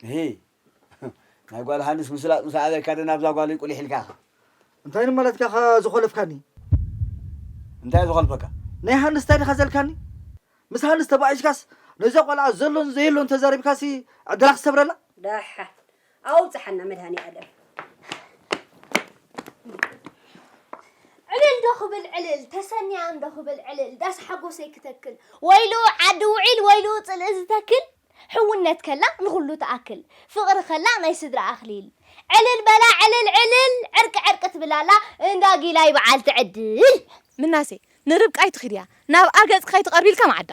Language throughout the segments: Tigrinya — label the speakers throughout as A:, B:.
A: እሂ ናይ ጓል ሃንስ ምስላጥ ምስ ኣበካ ዶ ናብዛ ጓለይ ቁሊሕ ኢልካ ኢካ። እንታይ ንማለት
B: ኢካ ዝኮለፍካኒ።
A: እንታይ ዝኮልፈካ። ናይ ሃንስ ታይ ዲካ
B: ዘልካኒ ምስ ሃንስ ተባኢስካስ ነዛ ቆልዓ ዘሎን ዘየሎን ተዛሪብካሲ ዕድላ ክሰብረላ። ዳሓን
C: ኣውጽሓና መድሃኒኣለም። ዕልል ዶ ክብል ዕልል ተሰንያ እንዶ ክብል ዕልል ዳስ ሓጎሰይ ክተክል ወይሉ ዓዲ ውዒል ወይሉ ጽልኢ ዝተክል። ሕውነት ከላ ንኹሉ ትኣክል ፍቕሪ ከላ ናይ ስድራ ኣኽሊል ዕልል በላ ዕልል ዕልል ዕርቂ ዕርቂ ትብል ኣላ እንዳ ጊላይ በዓልቲ ዕድል። ምናሴ
D: ንርብቃ ኣይትኺድያ ናብኣ ገጽኪ ከይትቐርቢ ኢልካ መዓዳ።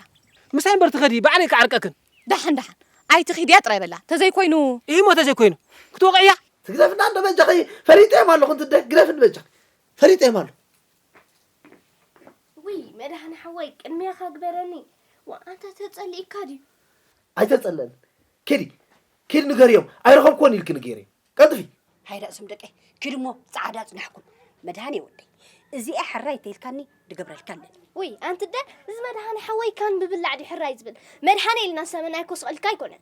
D: ምሳይ እምበር ትኸዲ
E: ባዕለይ ክዓርቀክን። ዳሓን ዳሓን
D: ኣይትኺድያ ጥራይ በላ ተዘይ ኮይኑ። ኢሂ'ሞ ተዘይ ኮይኑ
E: ክትወቕዕያ። ትግደፍና እንዶ
B: በጃኺ ፈሊጠዮም ኣለኹ እንትደ ግደፍኒ በጃኺ ፈሊጠዮም ኣለኹ።
C: ውይ መድሃን ሓወይ ቅድሚያኻ ግበረኒ ወኣንታ ተጸሊእካ ድዩ ኣይተጸለኒ
B: ኪዲ ኪድ ንገርዮም ኣይረኸብክዎን ኢልኪ ንገርዮ ቀልጥፊ ሃይዳ እሱም ደቀይ
C: ኪድ እሞ ጻዕዳ ጽናሕኩም መድሃን የወደይ እዚኣ ሕራይ ተይልካኒ ድገብረልካ ኣለኒ ውይ ኣንቲ ደ እዚ መድሃን ሓወይ ካን ብብላዕ ድዩ ሕራይ ዝብል መድሃን ኢልና ሰመን ኣይኮስቐልካ ኣይኮነን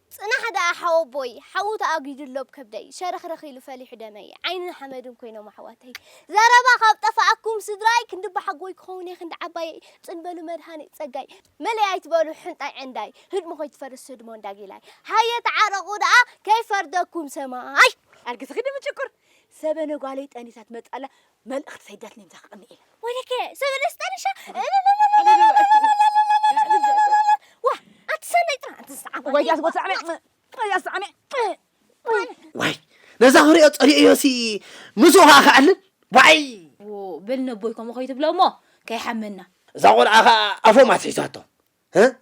B: ጽናሕ ደኣ
C: ሓወቦይ ሓዊ ተኣጊዱ ኣሎ ብ ከብደይ ሸረኽረኽ ኢሉ ፈሊሑ ደመይ ዓይንን ሓመድን ኮይኖም ኣሕዋተይ ዘረባ ካብ ጠፋኣኩም ስድራይ ክንዲ ኣቦሓጎይ ክኸውን እየ ክንዲ ዓባየይ ጽን በሉ መድሃኒት ጸጋይ መሊኣ ኣይትበሉ ሕንጣይ ዕንዳይ ህድሞ ከይትፈርስ ህድሞ እንዳ ጊላይ ሃየ ተዓረቑ ደኣ ከይፈርደኩም ሰማይ ኣርግትኺ ድምጭኩር
D: ሰበነ ጓለይ ጠኒሳ ትመጽእ ኣላ መልእኽቲ ሰይደትኒ እንተ ክቕኒ ኢለ ወይለከ ሰብ
C: ደስጠንሻ ዋ ኣትሰነይ ጥራ ኣንቲ ዝሰዓመ ወይ ያስ
D: ጎትሰዓመ ወይ ያስ ሰዓመ
B: ወይ ነዛ ክሪኦ ጸሊኦዮሲ ምስ ውሃ ክዕልል ዋይ ብል ነቦይ
D: ከምኡ ከይትብሎ እሞ ከይሓመና እዛ ቆልዓ ከዓ
B: ኣፎም ኣትሒዛቶ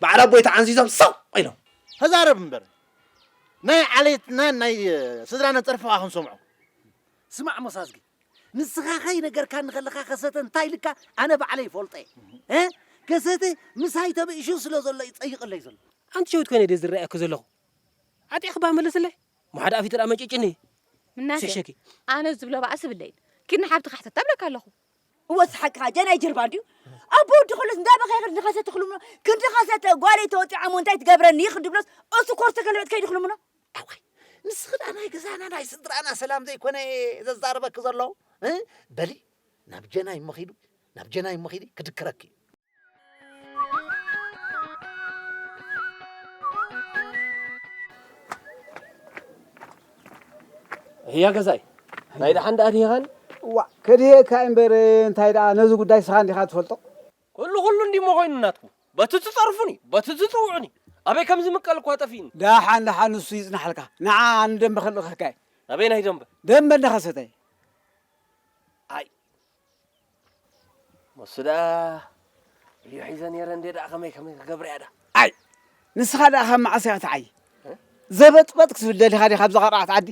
B: በዓል ኣቦይ ተዓንዚዞም ስቕ ኢሎም። ተዛረብ እምበር
F: ናይ ዓሌትናን ናይ ስድራናን ጸርፊ ከኣ ክንሰምዖ። ስማዕ ሞሳዝጊ ንስኻ ከይነገርካኒ ከለኻ ከሰተ እንታይ ኢልካ ኣነ ባዕለይ ይፈልጦ'የ። ከሰተ ምሳይ ተበኢሹ ስለ ዘሎ እዩ ጸይቐለይ ዘሎ። ኣንቲ ሸዊት ኮይነ ድየ
E: ዝረኣየኪ ዘለኹ? ዓጢቕኪ'ባ መልስለይ እሞ ሓደ ኣፊ ተርኣ መንጭጭኒ። ምናሴ
D: ኣነ ዝብሎ
E: ባእሲ
D: ብለይን ኪድ ንሓብትኻ ሕተታ እብለካ ኣለኹ። እወ ስሓቅኻ
G: ጀናይ ጅርባ እንድዩ ኣቦ ወዲ ከሎስ እንዳበኸየ ክንዲ ኸሰ ትኽልምኖ ክንዲ ኸሰተ ጓለይ ተወጢዓ እሞ እንታይ ትገብረኒ ክንዲ ብሎስ እሱ ኮርተ ከልበት ከይዲ ክልምኖ ኣዋይ
F: ምስ ኽዳ ናይ ገዛና ናይ ስድራና ሰላም ዘይኮነ ዘዛረበኪ ዘሎ በሊ ናብ ጀናይ እሞ ኺዱ ናብ ጀናይ እሞ ኺዲ ክድክረኪ እዩ
E: ህያ ገዛይ ናይ ደሓን ደኣ ድኻን እዋ
A: ከድህየካ እምበር እንታይ ደኣ ነዚ ጉዳይ ስኻ እንዲኻ ትፈልጦ ኩሉ
E: ኩሉ እንዲሞ
A: ኮይኑ
E: ናትኩም በቲ
A: ትጸርፉኒ
E: በቲ
A: ትጽውዑኒ
E: ኣበይ ከም ዝምቀል እኳ ጠፊእኒ ደሓን ደሓን ንሱ
A: ይጽናሓልካ ንዓ ኣነ ደንበ ክልእኸካ እየ ኣበይ ናይ ደንበ
E: ደንበ እንዳኸሰተ
A: ኣይ
E: ንሱ ደኣ እዩ ሒዘ ነይረ እንዴ ደኣ ከመይ ከመይ ክገብር እያ ደኣ ኣይ
A: ንስኻ ደኣ ካብ መዓስ እያ ትዓይ ዘበጥበጥ ክትብል ደሊኻ ዲኻ ኣብዛ ቀርዓት ዓዲ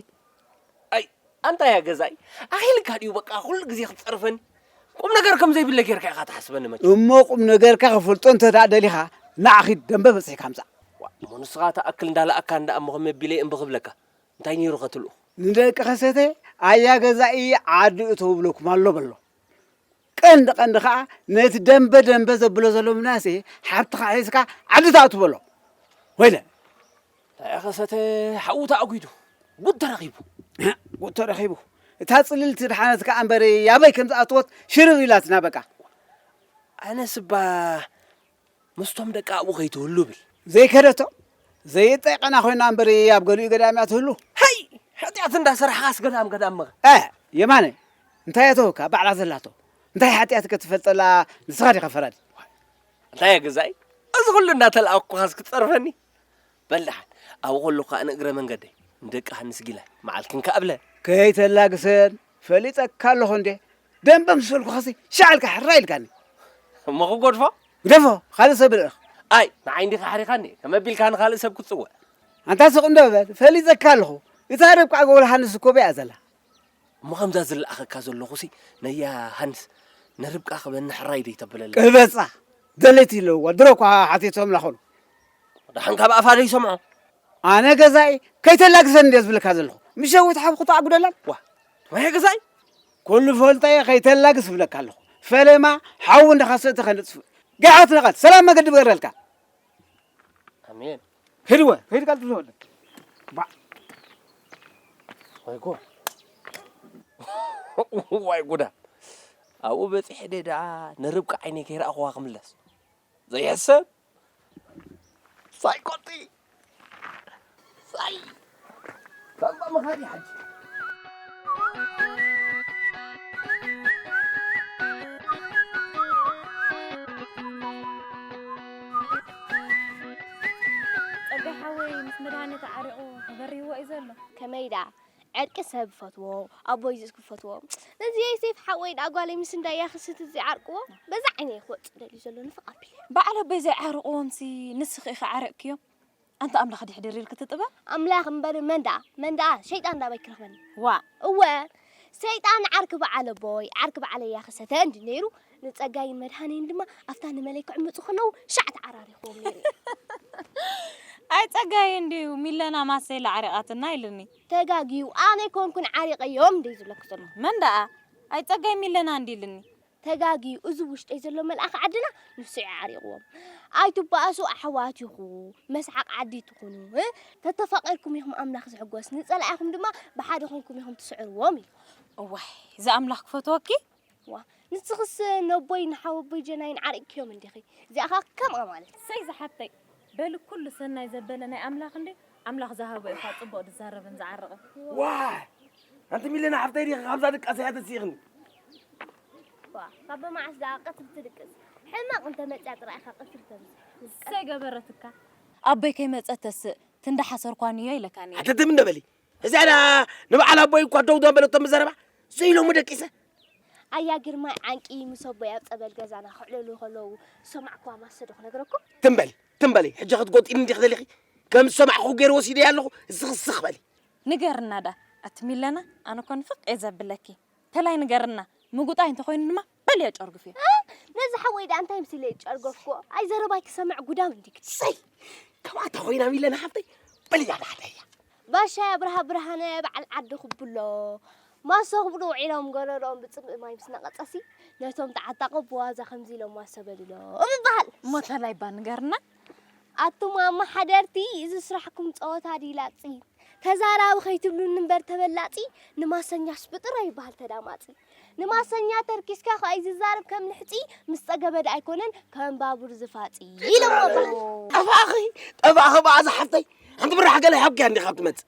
A: ኣይ
E: ኣንታይ እያ ገዛይ ኣኺልካ ድዩ በቃ ኩሉ ግዜ ክትጸርፈኒ ቁም ነገር ከም ዘይብለ ጌርካ ኢኻ ትሓስበኒ መቸም እሞ ቁም ነገርካ
A: ክፈልጦ እንተ ደኣ ደሊኻ ንዓ ኺድ ደምበ በጺሕካ ምጻእ እሞ ንስኻ እታ
E: ኣክል እንዳለኣካ እንዳ እሞ ከመይ ኣቢለ እምቢ ክብለካ እንታይ ነይሩ ከትሉ ንደቂ ከሰተ
A: ኣያ ገዛኢ ዓዲ እተው ብለኩም ኣሎ በሎ ቀንዲ ቀንዲ ከዓ ነቲ ደንበ ደንበ ዘብሎ ዘሎ ምናሴ ሓብትኻ ሒዝካ ዓዲ ትኣቱ በሎ ወይለ
E: ኣያ ከሰተ ሓዉ ተኣጒዱ ጉድ ተረኺቡ ጉድ ተረኺቡ
A: እታ ፅልልቲ ድሓነት ከዓ እምበረ ያበይ ከም ዝኣትወት ሽርር ኢላትና በቃ
E: ኣነስ እባ ምስቶም ደቂ ኣብኡ ከይትህሉ ብል ዘይከደቶ
A: ዘይጠይቀና ኮይና እምበር ኣብ ገሊኡ ገዳም እያ ትህሉ ሃይ ሓጢኣት
E: እንዳሰራሕኻስ ገዳም ገዳም መኸ እ የማነ
A: እንታይ እተወካ ባዕላ ዘላቶ እንታይ ሓጢኣት ከትፈልጠላ ንስኻ ዲኻ ፈራዲ እንታይ
E: ገዛኢ እዚ ኩሉ እንዳተላኣኩኻስ ክትፀርፈኒ በልድሓን ኣብኡ ከለኩ ከዓ ንእግረ መንገደይ ንደቂ ሃንስ ጊላይ መዓልክን ከኣብለ ከይተላግሰን
A: ፈሊጠካ ኣለኹ እንዴ ደንበ ምስ በልኩኻሲ ሻዕ ኢልካ ሕራይ ኢልካኒ። እሞ ክጎድፎ?
E: ግደፎ፣ ካልእ
A: ሰብ ርእ። ኣይ ንዓይ እንዲኻ
E: ኣሕሪኻኒ፣ ከመይ ኣቢልካ ንኻልእ ሰብ ክትጽውዕ? ኣንታ ስቕ እንዶ
A: በል፣ ፈሊጠካ ኣለኹ። እታ ርብቃ ጎል ሃንስ እኮ ኣብያ'ያ ዘላ። እሞ ከምዛ
E: ዝለኣኸካ ዘለኹሲ ነያ ሃንስ ንርብቃ ክበኒ ሕራይ ደይተብለላ? ቅበጻ!
A: ደለይቲ ኣለውዋ፣ ድሮ እኳ ሓቲቶምላ ኾኑ። ደሓን
E: ካብ ኣፋ ደይሰምዖ? ኣነ ገዛኢ
A: ከይተላግሰኒ እንድየ ዝብለካ ዘለኹ። ምሸዊት ሓብኩ ተኣጉደላን። ዋ ትማየ ገዛኢ
E: ኩሉ ፈልጦ
A: እየ ከይተላግስ እብለካ ኣለኹ ፈለማ ሓዊ እንዳኸሰተ ከነጥፍ ገዓት ነቐት ሰላም መገዲ ብገረልካ
E: ኣሜን ህድወ
A: ሂድ ቀልጥ ዝወለ
E: ወይ ጉድ ዋይ ጉዳ ኣብኡ በፂሐ ደኣ ንርብቃ ዓይነይ ከይረኣኹዋ ክምለስ ዘይሕሰብ ሳይ ኮቲ ሳይ ከምባ መኻዲ ሓጂ
D: ጸጋይ ሓወይ ምስ መድሃኔ ተዓሪቑ ተበሪህዎ እዩ ዘሎ። ከመይ ደኣ
C: ዕርቂ ሰብ ፈትዎ ኣቦይ ዝስ ክፈትዎ ነዚ ዮሴፍ ሓወይ ደኣ ጓለይ ምስ እንዳ ያክስት እዚ ዓርቅዎ በዛ ዓይነይ ክወጽእ ደልዩ ዘሎ ንፍቕ ኣቢለ በዓል ኣቦይ
D: ዘይዓርቕዎምሲ ንስኺ ኢኺ ዓርቅክዮም ኣንተ ኣምላኽ ድሕድር ኢልኪ ትጥበ ኣምላኽ እምበር መን
C: ደኣ መን ደኣ ሸይጣን ዳበይ ክረኽበኒ ዋ እወ ሰይጣን ዓርኪ በዓል ኣቦይ ዓርኪ በዓለይ ያክሰተ እንዲ ነይሩ ንጸጋይን መድሃኔን ድማ ኣብታ ንመለይ ክዕምጹ ከለዉ ሻዕ ተዓራሪኽዎም ነይሩ
D: ኣይ ጸጋይ እንድዩ ሚለና ማሰይለ ዓሪቓትና ኢሉኒ። ተጋግዩ ኣነ
C: ኣይኮንኩን ዓሪቐዮም እንድዩ ዝብለኩ ዘሎ። መን ደኣ?
D: ኣይ ጸጋይ ሚለና እንድዩ ኢሉኒ። ተጋግዩ እዚ
C: ውሽጠይ ዘሎ መልኣኽ ዓድና ንሱ'ዩ ዓሪቕዎም። ኣይትባኣሱ ኣሕዋት ኢኹ መስሓቕ ዓዲ ትኹኑ ተተፋቒርኩም ኢኹም ኣምላኽ ዝሕጎስ ንጸላኢኹም ድማ ብሓደ ኮንኩም ኢኹም ትስዕርዎም ኢሉ። እዋይ
D: እዚ ኣምላኽ ክፈትወኪ ዋ
C: ንስኽስ ነቦይ ንሓወቦይ ጀናይን ዓሪቅክዮም እንዲኺ እዚኣ ከኣ ከምኣ ማለት እሰይ ዝሓፍተይ
D: በሊ ኩሉ ሰናይ ዘበለ ናይ ኣምላኽ እንድዩ ኣምላኽ ዝሃቦ ኢኻ ጽቡቕ ዝዛረብን ዝዓርቕን። ዋይ
E: ኣንቲ ሚለና ሓፍተይ ዲኺ ካብዛ ድቃስ እያ ተሲእኽኒ።
C: ዋ ካብ መዓስ ደኣ ቀትሪ ትድቅስ ሕማቕ እንተ መጽያ ጥራይ ኢኻ ቀትሪ ተምጽእ። እሰይ
D: ገበረትካ። ኣቦይ ከይመጸ ተስእ ክንዲ ሓሰርኳ ንዮ ኢለካ ነይረ። ኣተ ትም እንደ በሊ
E: እዚኣ ድኣ ንበዓል ኣቦይ እኳ ደው ዘበለቶም ብዘረባ ዘይሎሙ ደቂሰ ኣያ
C: ግርማይ ዓንቂ ምስ ኣቦይ ኣብ ጸበል ገዛና ክዕልሉ ከለዉ ዝሰማዕኩዋ ማሰ ዶ ክነግረኩም? ትም በሊ ትም በሊ
E: ሕጂ ክትጎጥኢኒ እንዲኺ ደሊኺ ከም ዝሰማዕኹ ገይረ ወሲደያ ኣለኹ እስኺ ስኽ በሊ ንገርና
D: ድኣ ኣቲ ሚለና ኣነ እኮ ንፍቅ እየ ዘብለኪ ተላይ ንገርና ምጉጣይ እንተኮይኑ ድማ በል ያጨርግፍ እያ ነዚ ሓወይ ደኣ
C: እንታይ ምስለ ጨርገፍኩ ኣይ ዘረባይ ክሰምዕ ጉዳም እንዲክ ሰይ
E: ካብኣታ ኮይና ሚለና ሓፍተይ በል እያ ዳሓደ እያ ባሻይ ኣብርሃ
C: ብርሃነ በዓል ዓዲ ክብሎ ማሶ ክብሉ ውዒሎም ገረርኦም ብፅምኢ ማይ ምስ ነቐፀሲ ነቶም ተዓጣቑ ብዋዛ ከምዚ ኢሎም ማሶ በልሎም ይበሃል እሞ ተላይ እባ
D: ንገርና ኣቱም
C: ኣማሓደርቲ እዚ ስራሕኩም ጸወታ ድዩ ላጺ ተዛራቢ ከይትብሉኒ እምበር ተበላጺ ንማሰኛስ ብጥራይ ይበሃል ተዳማጺ ንማሰኛ ተርኪስካ ከኣ እዩ ዝዛረብ ከም ልሕጺ ምስ ጸገበ ደኣ ኣይኮነን ከም ባቡር ዝፋጺ ኢሎሞ ጠፋኺ
E: ጠፋኺ በኣ ዝሓፍተይ ሓንቲ ብራሕ ገለ ሓብኪ እንዲኻ ትመጽእ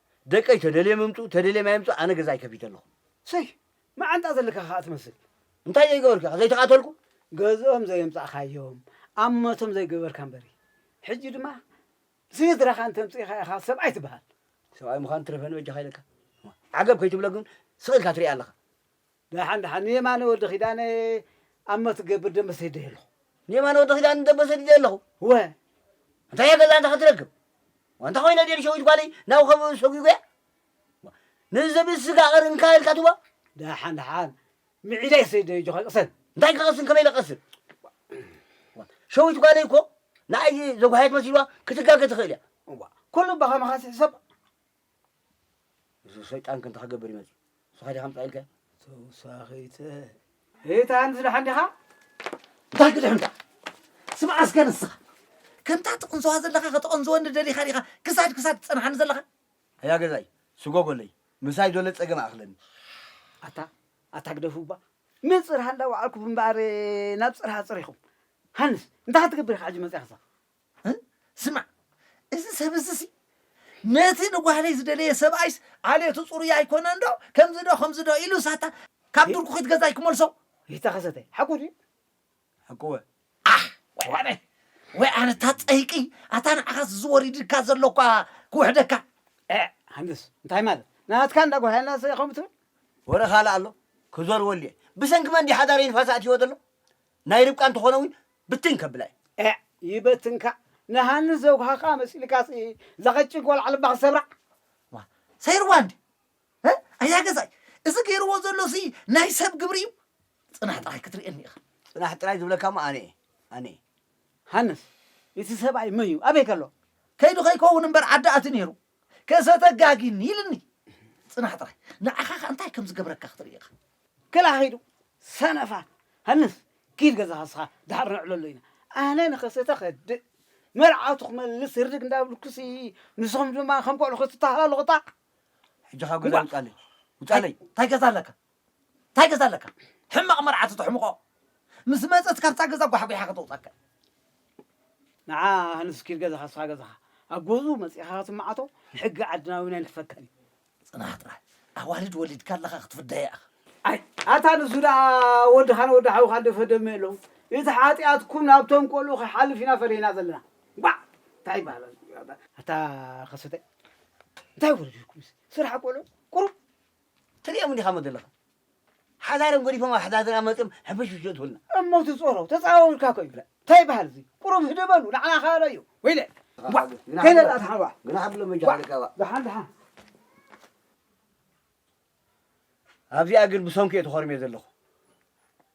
F: ደቀይ ተደልዮም ይምጹ ተደልዮም ኣይምጹ ኣነ ገዛይ ከፊተ ኣለኹ። ሰይ
A: መዓንጣ ዘለካ ከኣ ትመስል እንታይ ዘይገበርኩ
F: ኢኻ ዘይተቓተልኩ? ገዝኦም
A: ዘየምጻእካዮም ኣብ ሞቶም ዘይገበርካ እምበሪ ሕጂ ድማ ስድራኻ እንተምጺእኻ ኢኻ ሰብኣይ ትበሃል። ሰብኣይ ምዃን
F: ትረፈኒ በጃኻ ኢለካ ዓገብ ከይትብሎ ግን ስቕ ኢልካ ትሪኣ ኣለኻ። ዳሓን
A: ዳሓን ንየማነ ወዲ ኪዳነ ኣሞ ትገብር ደምበ ሰዲደ ኣለኹ። ንየማነ ወዲ ኪዳነ
F: ደምበ ሰዲደ ኣለኹ። እወ እንታይ እያ ገዛ እንተ ክትረክብ ዋንታ ኮይና ድየ ንሸዊት ጓለይ ናብ ኸብቢ ሰጒጒያ ንዝብኢ ስጋ ቐርንካ ኢልካ ትህባ። ዳሓን ዳሓን
A: ምዒዳይ ሰዲደ ኣጆኻ ቅሰን። እንታይ ክቐስን ከመይ ኢለ
F: ክቐስን ሸዊት ጓለይ እኮ ንኣይ ዘጓሃየት መሲልዋ ክትጋገ ትኽእል እያ። እዋ ኩሉ
A: ብኸማኻስ ይሕሰብ። እዚ
F: ሰይጣን ከ እንታይ ክገብር እዩ መፅዩ? ንስኻ ዲኻ ኣምፅኣ ኢልካዮ? ተውሳኺተ ሪታ
A: እንድዚ ደሓን ዲኻ? እንታይ
F: ክትድሕን እታ ስምዓ እስከ ንስኻ ከምታ ትቕንስዋ ዘለኻ ከተቐንዝወኒ ደሊኻ ዲኻ ክሳድ ክሳድ ትፀንሓኒ ዘለኻ? ኣያ ገዛይ ስጎጎለይ ምሳይ ዶለ ፀገም ኣይኣኽለኒ። ኣታ ኣታ ግደፉ
A: እባ ንፅር ሃንዳ ወዓልኩ እምበኣር ናብ ፅርሃ ፅር ኢኹም። ሃንስ እንታይ ክትገብር ኢኻ ሕጂ መፂኻ እዛ?
F: ስማዕ እዚ ሰብ እዚሲ ነቲ ንጓህለይ ዝደለየ ሰብኣይስ ዓሌቱ ጽሩይ ኣይኮነንዶ ከምዚዶ ከምዚዶ ኢሉ ሳታ ካብ ዱርኩ ክትገዛይ ክመልሶ ይተኸሰተ ሓቁ
A: ድዩ ሓቁወ
F: ኣሕ ወይ ኣነ ወይ ኣነ እታ ጸይቂ ኣታ ንዓኻስ ዝወሪድካ ዘሎኳ ክውሕደካ ሃንደስ
A: እንታይ ማለት ናትካ እንዳ ጓህያና ሰ ከምኡ ትብል ወረ ካልእ
F: ኣሎ ክዘርወሉ እየ ብሰንኪ መን ድዩ ሓዳረይ ንፋስ ኣእትይዎ ዘሎ ናይ ርብቃ እንተኾነ እውን ብትን ከብላ እዩ። ኤዕ ይበትንካ
A: ንሃኒ ዘውሃካ መሲልካስ እዛ ቀጭን ቆልዓ ልባ ክሰብራ። ዋእ
F: ሰይርዋ እንድዩ እ ኣያ ገዛይ እዚ ገይርዎ ዘሎ ሲ ናይ ሰብ ግብሪ እዩ ጽናሕ ጥራይ ክትርእየኒ ኢካ። ጽናሕ ጥራይ ዝብለካ እሞ ኣነ እየ ኣነ እየ። ሃንስ
A: እቲ ሰብኣይ መንዩ ኣበይ ከሎ። ከይዱ ከይከውን
F: እምበር ዓዲ ኣትዩ ነይሩ። ከሰተጋጊኒ ኢልኒ ጽናሕ ጥራይ ንዓኻ ከ እንታይ ከም ዝገብረካ ክትርኢ ኢኻ ክላ ኺዱ
A: ሰነፋት ሃንስ ኪድ ገዛኻ ንስኻ ድሓር ነዕለሎ ኢና ኣነ ንኸሰተ ከድእ መርዓቱ ክመልስ ህርድግ እንዳብልኩሲ ንስኹም ድማ ከም ቆልዑ ክትታሃላለኹ ጣዕ ሕጂ ካብ
F: ገዛ ውጻለይ ውጻለይ እንታይ ገዛ ኣለካ ታይ ገዛ ኣለካ ሕማቅ መርዓቱ ተሕምቆ ምስ መጸት ካብታ ገዛ ጓሕጒሓ ከተውጸካ ንዓ
A: ሃንስ ኪድ ገዛኻ ስኻ ገዛኻ ኣብ ገዝኡ መጺኻ ክትማዓቶ ሕጊ ዓድና እውን ኣይንፈቅድን ጽናሕ ጥራይ
F: ኣዋልድ ወሊድካ ኣለኻ ክትፍደያ ኢኻ ኣይ ኣታ
A: ንሱ ደኣ ወድኻን ወዲ ሓውኻን ድፈደመ ኣለዉ እቲ ሓጢኣትኩም ናብቶም ቆልኡ ክሓልፍ ኢና ፈሪህና ዘለና ጓዕ እንታይ ይበሃል ኣታ ከሰተ እንታይ ወለድኩምስ ስራሕ ቆልዑ ቁሩብ ትርእዮም
F: እንዲኻ እሞ ዘለኻ ሓዳሮም ገዲፎም ኣብ ኣሕዛዝና መጽዮም ሕፍሽፍሽ የእትውልና። እሞ ትጾሮ
A: ተጻዋዊርካ እኮ ይብለ ታይ ይብሃል እዚ ቁሩብ ህድእ በሉ ንዓና ካሎ እዩ ወይለ ዋእ ከይነጣ ትሓን ዋእ ግና ሓብሎም በጃ ሓደካ
F: ዋእ ድሓን
A: ድሓን
F: ኣብዚኣ ግን ብሰንኩ እየ ተኾርምየ ዘለኹ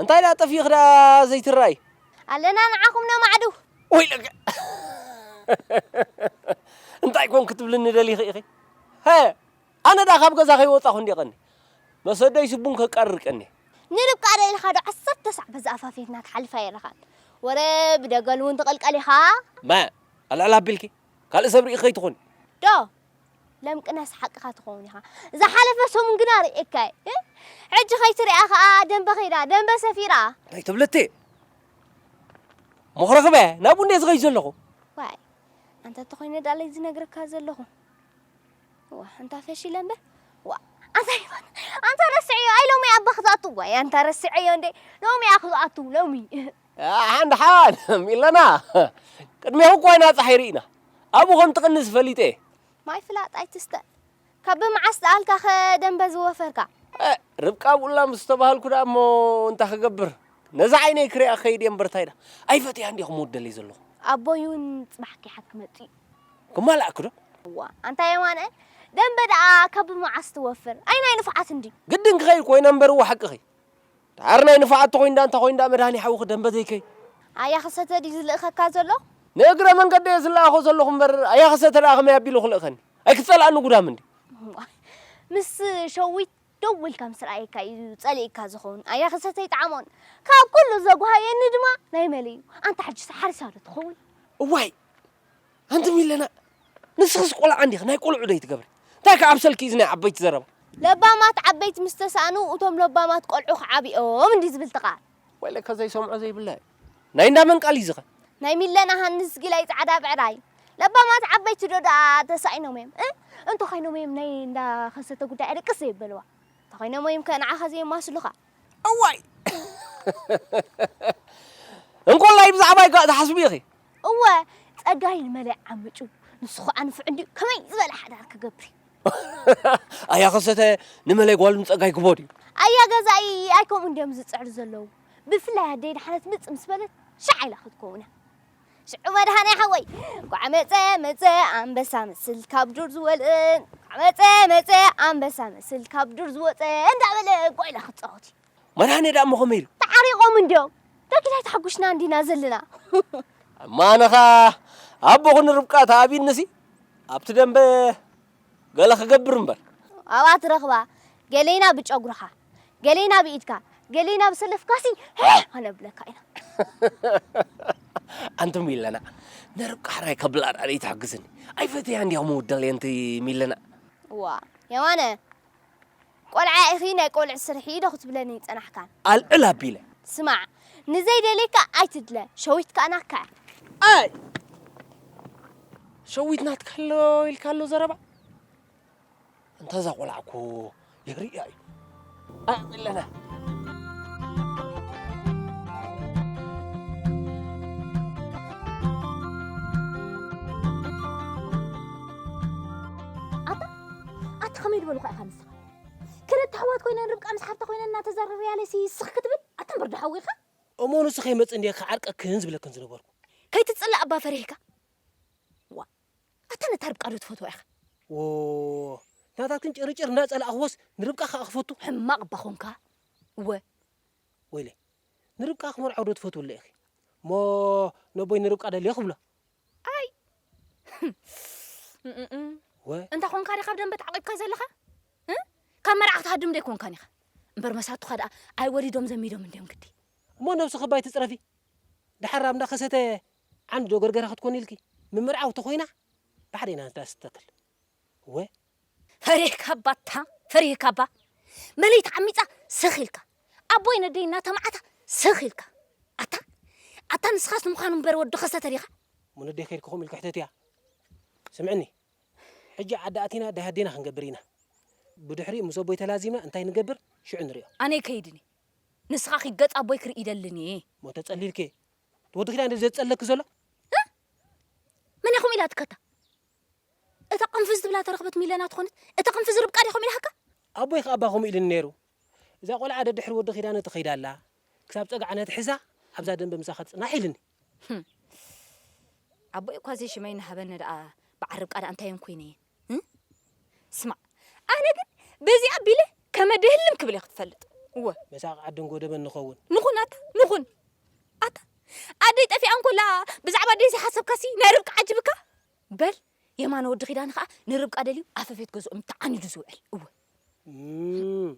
E: እንታይ ደኣ ጠፊእኺ ደኣ ዘይትረኣይ። ኣለና ንዓኹም
C: ነማዕድው። ወይለከ
E: እንታይ ኮን ክትብልኒ ደሊኺ ኢኺ ሀ ኣነ ደኣ ካብ ገዛ ከይወጻኹ እንድየ ቀንየ መሰደይሲ ቡን ከቃርር ቀንየ። ንርብቃ ዶ ኢልካ
C: ዶ ዓሰርተ ሳዕ በዚ ኣፋፌትና ትሓልፍ ኣይረኻን ወረ ብደገል ውን ትቕልቀል ኢኻ። መ ኣልዕል
E: ኣቢልኪ ካልእ ሰብ ርኢኺ ከይትኾኒ። ዶ
C: ለምቅናስ ሓቅኻ ትኸውን ኢኻ ዝሓለፈ ሰሙን ግና ርእየካ እየ ሕጂ ከይትሪኣ ከኣ ደንበ ከይዳ ደንበ ሰፊራ እንታይ ትብሊ እቴ
E: መኹረኽበ ናብኡ እንደ ዝኸይድ ዘለኹ ዋይ
C: ኣንተ ተኾይነ ዳለይ ዝነግረካ ዘለኹ ዋ ኣንታ ፈሺለ እምበር ዋ ኣንታ ይፋት ኣንታ ረስዐዮ ኣይ ሎሚ ኣባ ክዝኣቱ ዋይ ኣንታ ረስዐዮ እንደ ሎሚ እያ ክዝኣቱ ሎሚ ሓን
E: ሓን ኢለና ቅድሜኹ እኳ ኢና ጸሓይ ርኢና ኣብኡ ከም ትቕንስ ፈሊጠ እየ። ማይ ፍላጥ
C: ኣይትስተ ካብ መዓስ ደኣልካ ከ ደምበ ዝወፈርካ። ርብቃ
E: ኣብኡላ ምስ ተባሃልኩ ደኣ እሞ እንታይ ክገብር ነዛ ዓይነይ ክሪኣ ክኸይድ እየ እምበር እንታይ ደኣ ኣይፈትያን ድየ ክመውት ደልየ ዘለኹ። ኣቦይ እውን
C: ጽባሕ ኪሓት ክመጽእ እዩ። ክማላኣኪ
E: ዶ? እዋ ኣንታ የማነ
C: ደምበ ደኣ ካብ መዓስ ትወፍር? ኣይ ናይ ንፉዓት እንድዩ። ግድን ክኸይድ ኮይነ እምበር
E: እወ ሓቅኺ ዳሓር ናይ ንፋዓት ተኮይንዳ እንታይ ኮይንዳ መድሃኔ ሓውኺ ደምበ ዘይከይ። ኣያኸሰተ
C: ድዩ ዝልእኸካ
E: ዘሎ? ንእግረ
C: መንገደይ
E: እየ ዝለኣኾ
C: ዘለኹ
E: እምበር ኣያኸሰተ ደኣ ከመይ ኣቢሉ
C: ክልእኸኒ?
E: ኣይክትጸልኣኒ ጉዳም እንድዩ። እዋይ
C: ምስ ሸዊት ደው ኢልካ ምስ ረኣየካ እዩ ጸሊእካ ዝኸውን ኣያኸሰተ ኣይጠዓሞን ካብ ኩሉ ዘጉሃየኒ ድማ ናይ መሊ እዩ ኣንታ ሕጂስ ሓሪሳ ዶ ትኸውን? እዋይ
E: ኣንቲ ሚለና ንስኽስ ቆልዓ እንዲኺ ናይ ቆልዑ ዶ ኣይትገብሪ እንታይ ከ ኣብ ሰልኪ እዚ ናይ ዓበይቲ ዘረባ። ለባማት
C: ዓበይቲ ምስ ተሳእኑ እቶም ለባማት ቆልዑ ክዓብዮም እንድዩ ዝብል እቲ ቃል። ወይ ለካ ዘይሰምዖ
E: ዘይብላ እዩ ናይ እንዳ መን ቃል እዩ እዚ ከ። ናይ ሚለና ሃንስ
C: ጊላይ ጻዕዳ ብዕራይ። ለባማት ዓበይቲ ዶ ደኣ ተሳኢኖም እዮም እ እንተኾይኖም እዮም ናይ እንዳ ከሰተ ጉዳይ ኣደቅስ ዘይበልዋ እንተኾይኖም እዮም ከ ንዓኻ ዘየማስሉኻ።
E: እዋይ እንኮላይ ብዛዕባይ ከ ትሓስቢ ኢኺ። እወ
C: ጸጋይ ንመለይ ዓምጩ ንሱ ኸኣ ንፉዕ እንድዩ ከመይ ዝበለ ሓዳር ክገብር እዩ።
E: ኣያ ከሰተ ንመለይ ጓሉ ንጸጋይ ክቦ ድዩ። ኣያ ገዛኢ
C: ኣይ ከምኡ እንድዮም ዝጽዕሩ ዘለዉ ብፍላይ ኣደይ ድሓነት ምጽ ምስ በለት ሻዕ ኢላ ክትከውን እያ። ሽዑ መድሃኔ ሓወይ እንኳዕ መጸ መጸ ኣንበሳ መስል ካብ ዱር ዝወልእ እንኳዕ መጸ መጸ ኣንበሳ መስል ካብ ዱር ዝወጸ እንዳበለ ጓይላ ክጻወት እዩ። መድሃኔ ደኣሞ ከመይ
E: ኢሉ? ተዓሪቆም እንድዮም
C: ዳግድ ኣይተሓጉሽና እንዲና ዘለና። እማ
E: ኣነኻ ኣቦ ኹኒ ርብቃ ተኣቢንሲ ኣብቲ ደምበ። ገለ ክገብር እምበር። ኣብኣ ትረኽባ
C: ገሌና ብጨጉርኻ ገሌና ብኢድካ ገሌና ብሰለፍካሲ ሄህ ከነብለካ ኢና።
E: ኣንቲ ሚለና ንርብቃ ሕራይ ከብላ ድኣ ደይትሕግዝኒ። ኣይፈትያን ድያ ክምውደል የንቲ ሚለና። እዋ
C: የማነ። ቆልዓ ኢኺ ናይ ቆልዑ ስርሒ ዶ ክትብለኒ ጸናሕካ። ኣልዕል ኣቢለ።
E: ስማዕ
C: ንዘይደልየካ ኣይትድለ ሸዊት ከኣ ናትካ እያ። ኣይ!
E: ሸዊት ናትካ ኣሎ ኢልካ ኣሎ ዘረባ? እንተ እዛ ቆልዓ እኮ የርእያ እዩ። ኣይ ኣለና።
G: ኣቲ ከመይ ድበልኳ ኢኻ ንስኻ ክልተ ኣሕዋት ኮይነን ርብቃ ምስ ሓፍታ ኮይነን እናተዘረርያለሲ ስኽ ክትብል ኣቲ እምበር ዶሓዊ ኢኻ እሞ ንሱ ከይመጽእ
E: እንድየ ክዓርቀክን ዝብለክን ዝነበርኩ። ከይትጽላእ እባ
G: ፈሪህካ ዋእ ኣታ ነታ ርብቃ ዶ ትፈትዋ ኢኻ። ዎዎ
E: ናታትክን ጭርጭር እናጸላእኽዎስ ንርብቃ ከኣ ክፈቱ። ሕማቕ እባ ኾንካ
G: እወ።
E: ወይለይ ንርብቃ ክመርዖ ዶ ትፈትውለ ኢኺ እሞ ነቦይ ንርብቃ ደልዮ ክብሎ።
G: ኣይ እንታ ኮንካ ዲኻ ኣብ ደንበ ተዓቂብካ ዘለኻ ካብ መርዓ ክትሃድም ዶ ኣይኮንካን ኢኻ እምበር መሳቱኻ ደኣ ኣይወሊዶም ዘሚዶም እንድዮም ግዲ እሞ ነብስኺ ባይ
E: ትጽረፊ ደሓር ኣብ እንዳ ከሰተ ዓንዲ ዶ ገርገራ ክትኮኒ ኢልኪ ምምርዓው ተኾይና ባዕደይ ናትዳ ስተክል እወ።
G: ፈሪሕካ እባ ኣታ ፈሪህካ እባ መለይቲ ዓሚጻ ስኽ ኢልካ ኣቦይ ነደይ እናተማዓታ ስኽ ኢልካ ኣታ ኣታ ንስኻስ ንምዃኑ እምበር ወዲ ከሰተ ዲኻ? እሞ ነደይ ከድኪ
E: ከምኡ ኢልኪ ሕተትያ ስምዕኒ ሕጂ ዓዲ ኣቲና ደሃዴና ክንገብር ኢና ብድሕሪኡ ምስ ኣቦይ ተላዚምና እንታይ ንገብር ሽዑ ንሪኦ። ኣነ ኣይከይድን
G: እየ ንስኻ ኪድ ገጽ ኣቦይ ክርኢ ይደልን እየ። እሞ ተጸሊልኪ
E: እቲ ወዲ ኪዳን ድዩ ዘጸልለኪ ዘሎ? እህ
G: መን ኢኹም ኢላትኪ ኣታ እታ ቅንፍዝ ትብላ ተረኽበት ሚለና ትኾነት እታ ቅንፍዝ ርብቃ ዲኹም ኢላሃካ። ኣቦይ ከኣ እባ ከምኡ
E: ኢልኒ ነይሩ እዛ ቆልዓ ደድሕሪ ወዲ ኪዳነ ትኸይድ ኣላ ክሳብ ጸግዓ ነትሕዛ ኣብዛ ደንበ ምሳኻ ትጽናሕ ኢልኒ።
G: ኣቦይ እኳ ዘይሽመይ ናሃበኒ ደኣ በዓል ርብቃ ደኣ እንታይ እዮም ኮይነ እየ ስማዕ ኣነ ግን በዚኣ ኣቢለ ከመ ድህልም ክብል እየ ክትፈልጥ እወ መሳቂ ዓዲ
E: እንጎደበን ንኸውን ንኹን ኣታ ንኹን
G: ኣታ ኣደይ ጠፊኣ እንኮላ ብዛዕባ ኣደይ ዘይሓሰብካሲ ናይ ርብቃ ዓጅብካ በል የማነ ወዲ ኪዳነ ከኣ ንርብቃ ደልዩ ኣፈፌት ገዝኦም ተዓኒዱ ዝውዕል እወ። እም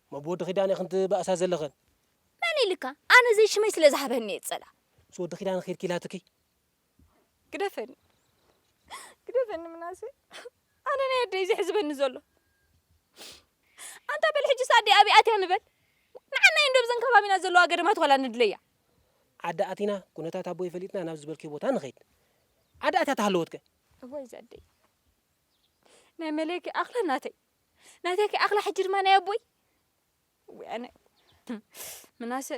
E: እሞ ብወዲ ኪዳነ ኢኽን ትባእሳ ዘለኽን? መን ኢልካ
G: ኣነ ዘይሽመይ ስለ ዝሃበኒ እየ ዝጸልኣ። ምስ ወዲ ኪዳነ ኬድኪ
E: ኢላትኪ?
D: ግደፈኒ ግደፈኒ ምናሴ ኣነ ናይ ኣደይ ዘሕዝበኒ ዘሎ። ኣንታ በል ሕጂስ ኣደይ ኣበይ ኣትያ ንበል ንዓና እዩ እንዶ ብዘን ከባቢና ዘለዋ ገደማት ዋላ ንድለያ። ዓዲ ኣቲና
E: ኩነታት ኣቦይ ፈሊጥና ናብ ዝበልክዮ ቦታ ንኸይድ። ዓዳ እታ ተሃለወት ከ። እዋይ ዛኣደይ
D: ናይ መለይ ከይኣኽላ ናተይ ናተይ ከይኣኽላ ሕጂ ድማ ናይ ኣቦይ ወይ ኣነ ምናሰ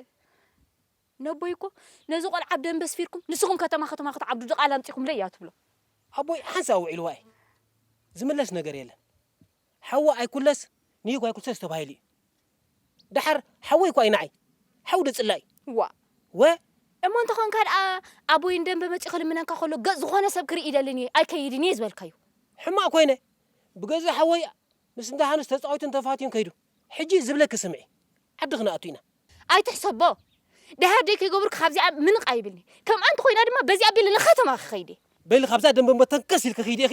D: ነቦይ እኮ ነዚ ቆልዓ ኣብ ደንበ ስፊርኩም ንስኹም ከተማ ከተማ ክትዓብዱ ድቓላ ኣምጺኹምለይ እያ ትብሎ ኣቦይ ሓንሳእ
E: ውዒልዋ እዩ ዝምለስ ነገር የለን ሓው ኣይኩለስ ንይኩ ኣይኩልሰስ ተባሂሉ እዩ ደሓር ሓወይ እኳ እዩ ንዓይ ሓው ዶ ጽላኢ ዋእ ወ።
G: እሞ እንተኾንካ ደኣ ኣቦይ ንደምበ መጺኡ ክልምነካ ከሎ ገጽ ዝኾነ ሰብ ክርኢ ይደልን እየ ኣይከይድን እየ ዝበልካዮ። ሕማቅ ኮይነ
E: ብገዛ ሓወይ ምስ እንዳ ሃንስ ተጻዊቱን ተፋትዩን ከይዱ ሕጂ ዝብለኪ ስምዒ ዓዲ ክነኣቱ ኢና። ኣይትሕሰቦ
G: ደሃር ደይ ከይገበርኩ ካብዚኣ ምንቕ ኣይብልን'የ ከምኣ እንተኾይና
E: ድማ
G: በዚኣ ኣቢለ
E: ንከተማ ክኸይድ
G: እየ። በሊ
E: ካብዛ
G: ደምበ እሞ
E: ተንከስ
G: ኢልኪ ክይዲ
E: ኢኺ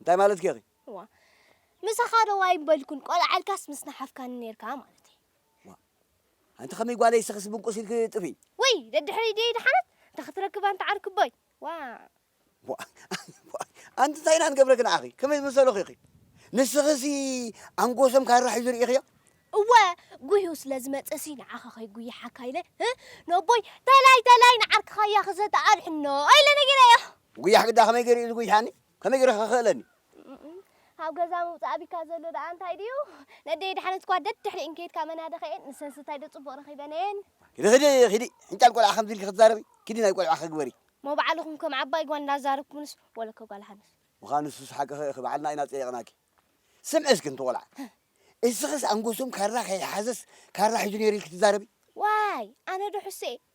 C: እንታይ
H: ማለትኪ ኢኺ? እዋ
C: ምሳኻ ዶ ዋይ ምበልኩን ቆልዓ ኢልካስ ምስ ናሓፍካኒ ኔርካ ማለተይ። እዋ
H: ኣንቲ ከመይ ጓለይ ስኽስ ብንቁስ ኢልኪ ጥፍይ። ውይ ደድሕረይ ድየ
C: ድሓነት እንተ ክትረክብ ኣንቲ ዓርክቦይ ዋእ። እዋ
H: ኣንቲ እንታይ ኢና ንገብረኪ ንዓኺ ከመይ ዝመሰልኺ ኢኺ ንስኺሲ ኣንጎሶም ካራ ሒዙ ሪኢኽዮ? እወ ጉሂኡ
C: ስለ ዝመጸሲ ንዓኻ ከይጉይሓካ ኢለ ህ ነቦይ ተላይ ተላይ ንዓርክኻ እያ ክዘትኣ ኣድሕኖ ኢለ ነጊረዮ። ጉያሕ ግዳ ከመይ ጌሩ
H: እዩ ዝጉይሓኒ? ከመይ ጌረ ክኽእለኒ? ካብ
C: ገዛ ምውጻእ ኣቢካ ዘሎ ደኣ እንታይ ድዩ? ነደይ የድሓነት እኳ ደድሕሪኤን ከይድካ መናድኼኤን ንሰን ስታይ ዶ ጽቡቕ ረኺበንኤን? ኪዲ ኺዲ ኺዲ
H: ሕንጫል ቆልዓ ከምዚ ኢልኪ ክትዛረቢ ኪዲ ናይ ቆልዕኺ ግበሪ። እሞ ባዕልኹም ከም
C: ዓባይ ጓል እንዳዛረብኩምንስ ወለከ ጓል ሃንስ። ምዃኑ ንሱስ ሓቅኺ
H: ኢኺ ባዕልና ኢና ጸይቕናኪ። ስምዒ እስኪ ኣንቲ ቆልዓ እስኽስ ኣንጎሶም ካራ ከይሓዘስ ካራ ሒዙ ኔሩ ኢልኪ ትዛረቢ? ዋይ ኣነ
C: ዶ ሕሱየ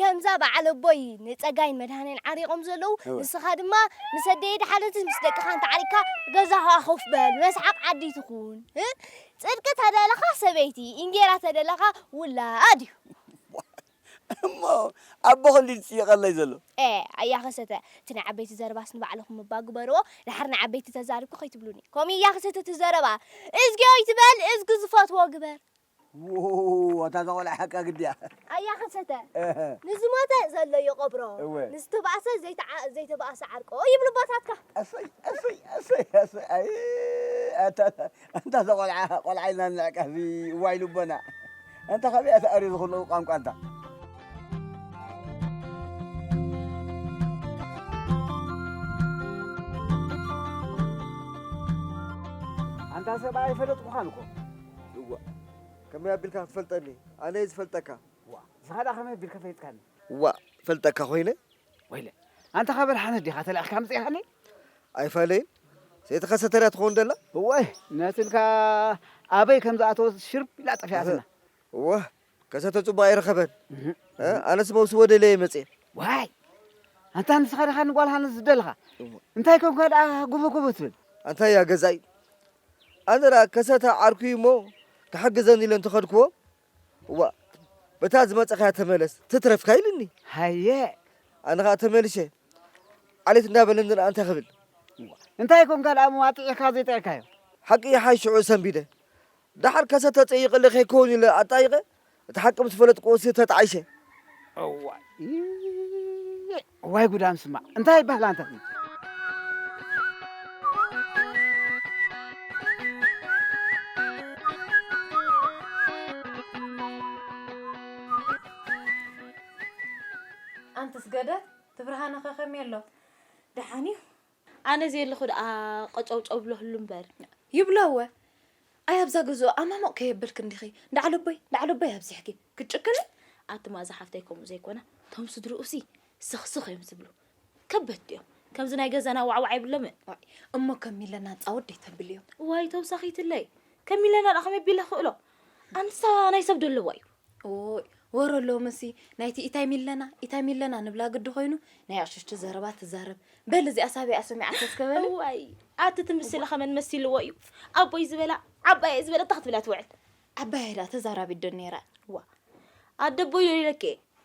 C: ከምዛ በዓል ኣቦይ ንጸጋይን መድሃኔን ዓሪቆም ዘለዉ እወ። ንስኻ ድማ ምስ ኣደይ ድሓነትስ ምስ ደቅኻ እንተዓሪቅካ ገዛኻ ኮፍ በል መስሓቅ ዓዲ ትኹን እ ጽድቂ ተደለኻ ሰበይቲ ኢንጌራ ተደለኻ ውላድ እዩ።
H: እሞ ኣቦ ኸልዲ ዝጽይቀለይ ዘሎ። ኤእ ኣያ ከሰተ
C: እቲ ናይ ዓበይቲ ዘረባስ ንባዕልኹም እባ ግበርዎ ድሓር ንዓበይቲ ተዛሪብኩ ከይትብሉኒ ከምኡ እዩ ኣያ ከሰተ እቲ ዘረባ እዝግዮ ኣይትበል እዝጊ ዝፈትዎ ግበር። ውውውውው
H: ኣታ እዛ ቆልዓ ሓቃ ግዲ እያ። ኣያ ከሰተ
C: ንዝሞተ ዘሎ ይቐብሮ ንዝተባእሰ ዘይተባእሰ ዓርቆ ይብሉ ኣቦታትካ። ኣሰይ ኣሰይ ኣሰይ
H: ኣሰይ ኣይ ኣታ ኣንታ እዛ ቆልዓ ቆልዓ ኢልና ንንዕቃ እዚ እዋይ ልቦና ኣንታ ካበይ እያ ተኣርዩ ዝኹሉ ቋንቋ ኣንታ ኣንታ ሰብኣይ ኣይፈለጥኩኻን እኮ እዋእ
B: ከመይ ኣቢልካ ክትፈልጠኒ ኣነየ ዝፈልጠካ። ዋእ ዝኸዳ ከመይ
A: ኣቢልካ ፈሊጥካኒ። ዋእ ፈልጠካ
B: ኮይነ። ወይለ
A: ኣንታ ካብ ኣድሓነት ዲኻ ተላኢኽካ ኣምጺእካኒ። ኣይፋለይን
B: ዘይተኸሰተ ድያ ትኸውን ደላ። እዋይ ነትልካ
A: ኣበይ ከም ዝኣተወት ሽርብ ኢላ ጠፊኣትና። እዋእ
B: ከሰተ ጽቡቕ ኣይረኸበን። ኣነስ መውስቦ ደለየ መጽየ። ዋይ
A: ኣንታ ንስኻ ዲኻ ንጓል ሃንስ ዝደለኻ እንታይ ኮንካ ደኣ ጉብጉብ ትብል ኣንታይ እያ ገዛኢ
B: ኣነ ደኣ ከሰተ ዓርኩ እዩ እሞ ክሕግዘኒ ኢለ እንተኸድክዎ እዋ በታ ዝመጸኻያ ተመለስ ትትረፍካ ኢልኒ ሃየ ኣነ
A: ከዓ
B: ተመልሸ ዓሌት እንዳበለኒ ደኣ እንታይ ክብል እንታይ
A: ኮንካ ደኣ መዋጥዒካ ዘይጥዕካዮ ሓቂ ይሓይሽዑ
B: ሰንቢደ ደሓር ከሰ ተጸይቐለ ከይከውን ኢለ ኣጣይቐ እቲ ሓቂ ምስ ፈለጥክዎሲ ተጣዒሰ። እዋይይይይ
A: እዋይ ጉድ ኣም ስማዕ እንታይ ይባሃል ኣንታ እዚ። ኣንትስ
G: ገደ ትብርሃነ ከከምይ ኣሎ ደሓን እዩ። ኣነ ዘየለኹ ደኣ ቀጨውጨው ብለክሉ እምበር። ይብሎ እወ ኣይ ኣብዛ ገዝኡ ኣማሙቕ ከየብልኪ እንዲኺ ዳዕለቦይ ዳዕለቦይ ኣብዚሕኪ ክትጭክኒ። ኣቲ ማእዛ ሓፍተይ ከምኡ ዘይኮነ ቶም ስድርኡሲ ስኽ ስኽ እዮም ዝብሉ ከበድቲ እዮም ከምዚ ናይ ገዛና ዋዕዋዕ የብሎምን። ዋይ እሞ ከም ሚለና ጻወድ ደይተብልዮም። ዋይ ተውሳኺትለይ ከም ሚለና ደኣ ከመይ ቢለ ክእሎ ኣንሳ ናይ ሰብ ደለዋ እዩ። እዎይ ወረ ሎምሲ ናይቲ ኢታይ ሚለና ኢታይ ሚለና ንብላ ግዲ ኮይኑ ናይ ዕሽሽቲ ዘረባ ትዛረብ በል እዚኣ ሳቢኣ ሰሚዓቶ እስከ በል እዋይ ኣቲ ትምስሊ ከመን መሲልዎ እዩ ኣቦይ ዝበላ ዓባየይ ዝበላ እንታይ ክትብላ ትውዕል ዓባየይ ድኣ ተዛራቢት ዶ ኔራ እዋ ኣደ ኣቦይ ዶ ኢለኪ እየ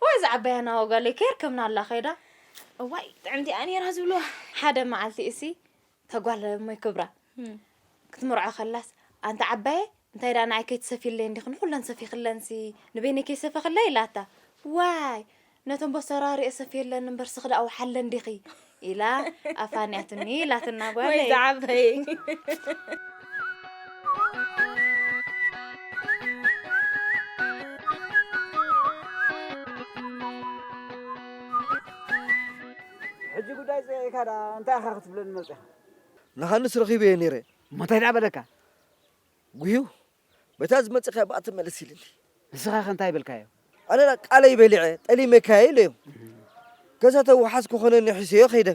G: እዋይ እዛ ዓባያ ናሆ ጋለይ ከየርከብናላ ከይዳ እዋይ ጥዕምቲ እያ ነይራ ዝብልዋ ሓደ መዓልቲ እሲ እታ ጓል እሞይ ክብራ ክትምርዖ ከላስ ኣንቲ ዓባየ እንታይ ደኣ ንዓይ ከይትሰፊለይ እንዲኺ ንኹለን ሰፊኽለንሲ ንበይነይ ከይሰፈኽለይ ኢላታ ዋይ ነቶም ቦሰራሪኤ ሰፊየለን እምበር ስኽዳእ ውሓለን ዲኺ ኢላ ኣፋንያትኒ ኢላትና ጓለይ ወይ ዝዓበይ ሕጂ
A: ጉዳይ ጸይቂካ ደኣ እንታይ ኢኻ ክትብለኒ መጺኻ? ንሃንስ
B: ረኺበዮ ነይረ። እሞ እንታይ ደኣ በለካ?
A: ጉሂው
B: በታ ዝመጸካያ ብኣ ተመለስ ኢልኒ። ንስኻ ከ እንታይ
A: በልካዮ? ኣነ ዳኣ ቃለይ
B: በሊዐ ጠሊመካ እየ ኢለዮ። ከዛ ተዋሓስ ክኾነኒ ሒሰዮ ከይደ።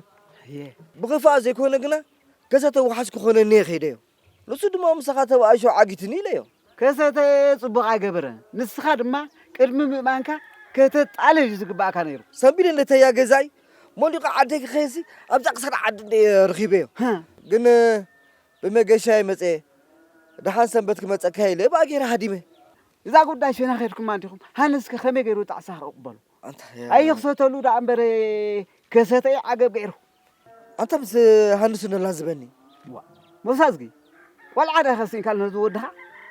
B: ብኽፋእ ዘይኮነ ግና ከዛ ተዋሓስ ክኾነኒ እየ ከይደዮ። ንሱ ድማ ምሳኻ ተባኢሱ ዓጊቱኒ ኢለዮ። ከሰተ ጽቡቕ
A: ኣይገበረን። ንስኻ ድማ ቅድሚ ምእማንካ ከተጣልል እዩ ዝግባእካ ነይሩ። ሰንቢደ ነተያ
B: ገዛይ ሞሊቐ ዓደይ ክኸይድሲ ኣብዛ ክሳድ ዓዲ እንደ እየ ረኺበዮ። ግን ብመገሻየ መጼ ደሓን ሰንበት ክመጸካ ኢለ ብኣ ጌረ ሃዲመ። እዛ ጉዳይ
A: ሽና ኬድኩማ እንዲኹም ሃንስከ ከመይ ጌሩ ጣዕሳ ክቕበሎ
B: ኣይኽሰተሉ
A: ደኣ እምበረ ከሰተ'ዩ ዓገብ ጌሩ። ኣንታ ምስ
B: ሃንሱ ነላዝበኒ። ዋእ ሞሳዝጊ
A: ቆልዓ ድኣ ከሲንካሉ ነዚ ወድኻ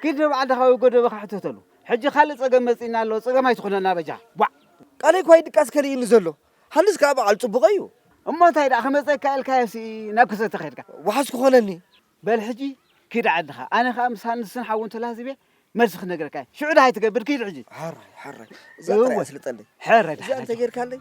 A: ኪድ ንባዕልኻ ወይ ጎደበኻ ሕተተሉ ሕጂ ካልእ ጸገም መጺእና ኣሎ ጸገም ኣይትኹነና በጃ ቧዕ። ቃለይ'ኳ
B: ይድቃስ ከሊኡኒ ዘሎ። ሃልስ ከኣ በዓል ጽቡቕ እዩ። እሞ እንታይ ደኣ
A: ክመጸካ ኢልካዮሲ ናብ ክሰተ ከድካ። ዋሕስ ክኾነኒ።
B: በል ሕጂ
A: ኪድ ዓድኻ ኣነ ከኣ ምስ ሃንስን ሓውን ተላህዚበ መልሲ ክነግረካ እየ። ሽዑ ደሃይ ትገብር ኪድ ሕጂ። ሐራይ ሐራይ
B: እዛ ጥራይ እወ ኣስልጠለይ። ሕረ እዚኣ ደሓን እንተ
A: ጌርካለይ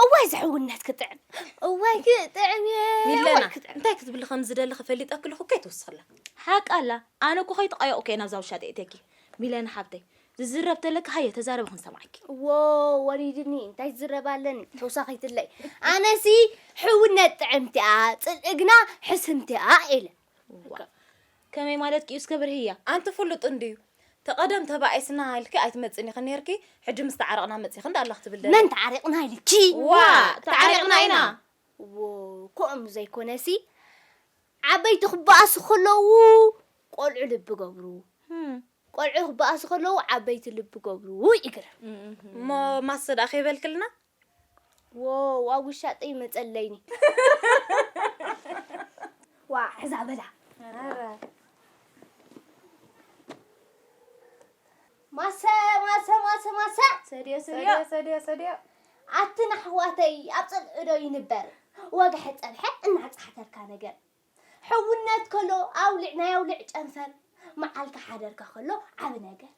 C: እዋይ ዝሕውነት ክጥዕም እዋይ ክጥዕም ሚለና እንታይ ክትብሊ
G: ከም ዝደሊ ክፈሊጠ ክልኹ ከይትውስኽላ ሓቂ ኣላ ኣነ እኮ ከይተቐየቑ ከየ ናብዛ ውሻ ተእትየኪ ሚለና ሓብተይ ዝዝረብ ተለኪ ሃየ ተዛረቢ ክንሰማዕኪ ዎ ወሪድኒ
C: እንታይ ዝረብ ኣለኒ ተውሳኺትለይ ኣነሲ ሕውነት ጥዕምቲኣ ፅልእግና ሕስምቲኣ ኢለ ዋእ
G: ከመይ ማለትኪ እዩ እስከ ብርህያ ኣንቲ ፍሉጥ እንድዩ ተቐደም ተባኢስና ኢልኪ ኣይትመጽእን ኢኺ ነይርኪ ሕጂ ምስ ተዓረቕና መጺኺ እንዳ ኣላ ክትብል መን ተዓሪቕና ኢልኪ
C: ዋእ ተዓሪቕና
G: ኢና ዎ
C: ኮእም ዘይኮነሲ ዓበይቲ ክበኣሱ ከለዉ ቆልዑ ልቢ ገብሩ ቆልዑ ክበኣሱ ከለዉ ዓበይቲ ልቢ ገብሩ ይግርም እሞ
G: ማሰ ደኣ ከይበልክልና ዎው
C: ኣብ ውሻጠይ መጸለይኒ ዋ ሕዛ በላ ማሰ ማሰ ማሰ ማሰ ሰድዮ ሰድዮ ሰድዮ ሰድዮ ኣትን ኣሕዋተይ ኣብ ጽልእዶ ይንበር ወግሐ ጸብሐ እናጻሕተርካ ነገር ሕውነት ከሎ ኣውልዕ ናይ ኣውልዕ ጨንፈር መዓልካ ሓደርካ ከሎ ዓብ ነገር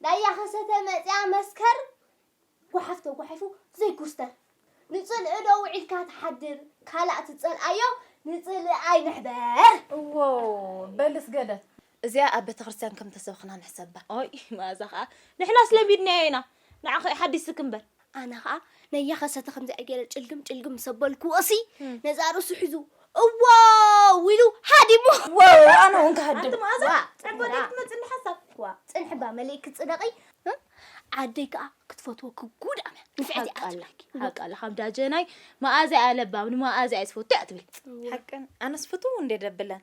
C: ዳያ ከሰተ መጺኣ መስከር ጓሓፍ ተጓሒፉ ዘይኩስተር ንጽልኢ ዶ ውዒልካ ትሓድር ካላእ ትጸልኣዮ ንጽልኢ ኣይንሕበር። እዎ
G: በልስ ገለ እዚኣ ኣብ ቤተክርስትያን ከም ተሰብኽና ንሕሰባ። ኦይ መኣዛ ከኣ ንሕናስ ለሚድናዮ ኢና ንዓኺ ሓዲስኪ እምበር። ኣነ ኸኣ
C: ነያ ከሰተ ከምዚኣ ገይረ ጭልግም ጭልግም ምስ ኣበልክዎሲ ነዛ ርእሱ ሒዙ እዎው ኢሉ ሃዲሙ ዋው ኣነ እውን ክሃድም ኣንቲ
G: መኣዛ ዋ፣ ፅንሒ ዕቦ
C: ዋ። ደይ ክትመፅእ እንዳ ሓሳብ ዋ ፅንሒ እባ መሊእ ክትፅደቒ እ? ዓደይ ከዓ ክትፈትወኪ ጉድ ኣምያ ንፍዕቲ እያ ሓቃላ ትብለኪ ሓቃላ
G: ካብ ዳጀናይ መኣዛ እያ ለባም ንመኣዛ እየ ዝፈቱ እያ ትብል ሓቀን ኣነስ ፍትው እንዴ ደብለን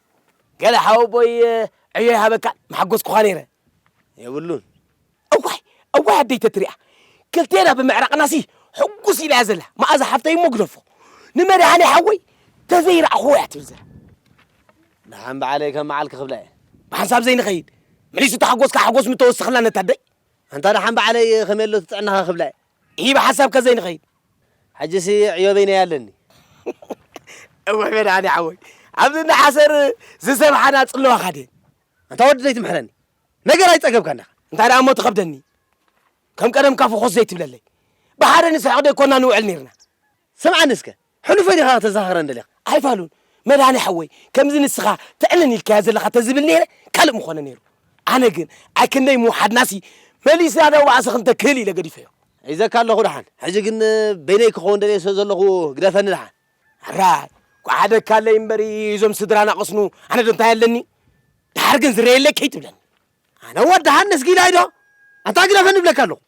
H: ገለ ሓወቦይ ዕዮ ይሃበካ ምሓጎስኩኻ ነይረ። የብሉን። እዋይ እዋይ ኣደይ ተትሪኣ ክልቴና ብምዕራቕናሲ ሕጉስ ኢላያ ዘላ መኣዛ ሓፍተይ እሞ ግደፎ ንመድሃኔ
E: ሓወይ ተዘይረኣኹዎ እያ ትብል ዘላ
I: ደሓን በዓለይ ከም መዓልኪ ክብላ እየ ብሓንሳብ ዘይንኸይድ
E: መሊሱ ተሓጎስካ ሓጎስ ምተወስኽላ ነታ ኣደይ ኣንታ ደሓን
I: በዓለይ ከመይ ኣሎ ትጥዕናኻ ክብላ እየ ሂብ ሓሳብካ
E: ዘይንኸይድ ሕጂሲ
I: ዕዮበይ ናይ ኣለኒ
E: እወ መድሃኔ ሓወይ ኣብዚ እንዳ ሓሰር ዝሰብሓና ጽለዋ ካድየን ኣንታ ወዲ
I: ዘይትምሕረኒ ነገር ኣይጸገብካን ዳኻ እንታይ ደኣ እሞ ትኸብደኒ
E: ከም ቀደምካ ፍኾስ ዘይትብለለይ ብሓደ ንስሕቕ ደይኮና ንውዕል ነይርና ስምዓኒ እስከ
I: ሕሉፈይ ዲኻ ከተዛኽረኒ ደሊኻ? ኣይፋሉን
E: መድሃኔ ሓወይ ከምዚ ንስኻ ተዕንን ኢልካያ ዘለኻ ተዝብል ነይረ ካልእ ምኾነ ነይሩ ኣነ ግን ኣይ ክንደይ ምውሓድናሲ መሊስና ነዋዕሶ ክንተ ክህል ኢለ ገዲፈዮ። ሒዘካ ኣለኹ ደሓን
I: ሕጂ ግን በይነይ ክኸውን ደልየ ስለ ዘለኹ ግደፈኒ ደሓን። ሕራይ
E: ጓሓደካለይ እምበሪ እዞም ስድራና ቅስኑ ኣነ ዶ እንታይ ኣለኒ ደሓር ግን ዝረየለይ ከይትብለኒ። ኣነ ወዲ
I: ሃንስ ጊላይ ዶ ኣንታ ግደፈኒ ይብለካ ኣለኹ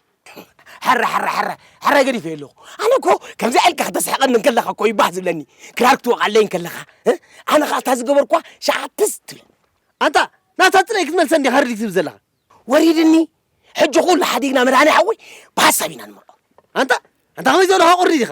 I: ሕረ ሕረ ሕረ ሕረ
E: ገዲፈ ኣለኹ ኣነ እኮ ከምዚ ኢልካ ከተስሕቐኒ እንከለኻ እኮ ይባህ ዝብለኒ ክራር ክትወቕዓለይ እንከለኻ ኣነ ከዓ እታ ዝገበርኳ ሸዓትስ ትብል ኣንታ
I: ናታ ጥራይ ክትመልሰ እንዲኻ ርዲት ትብል ዘለኻ ወሪድኒ
E: ሕጂ ኩሉ ሓዲግና መድሃኒ ሓወይ ብሓሳብ ኢና ንመርዖ ኣንታ ኣንታ
I: ከመይ ዘለኻ ቁሪ ዲኻ